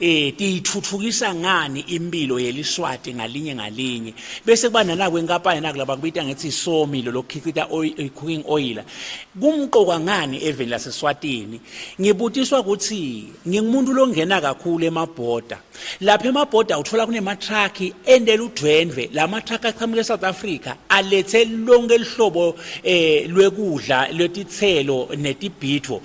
eh tiyithuthukisa ngani impilo yeliswati ngalinye ngalinye bese kuba nala kwenkampani naku laba kubita ngithi somi lo lokhicita eh, cooking oil kumqoka ngani eveni laseSwatini ngibutiswa ukuthi ngingumuntu longena kakhulu emabhoda lapha emabhoda uthola kunema truck endela udwendwe lama truck aqhamuka eSouth Africa alethe lonke lihlobo eh lwekudla lwetithelo netibhitho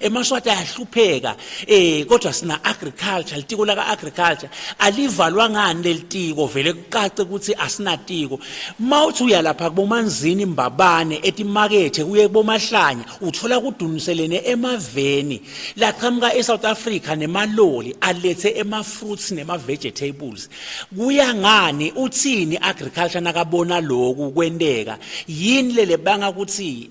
emaswati ayahlupheka eh kodwa sina agriculture litiko laka agriculture alivalwa ngani lelitiko vele kucace ukuthi asinatiko mawuthi uyalapha kubomanzini imbabane etimakethe kuye kubomahlanya uthola kuduniselene emaveni laqhamuka eSouth Africa nemaloli alethe ema fruits nema vegetables kuya ngani uthini agriculture nakabona lokhu kwenteka yini lelebanga ukuthi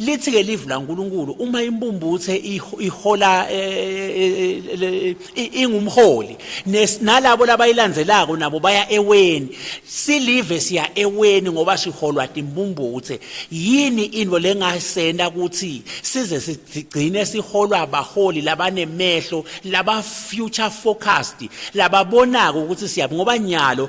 Lithi-ke livi laNkulunkulu uma imbumbuthe ihola eh, eh, eh, ingumholi nalabo labayilandzelako nabo baya eweni silive siya eweni ngoba siholwa timbumbuthe yini into lengasenta ukuthi size sigcine siholwa abaholi labanemehlo laba future focused lababonako ukuthi siyaphi ngoba nyalo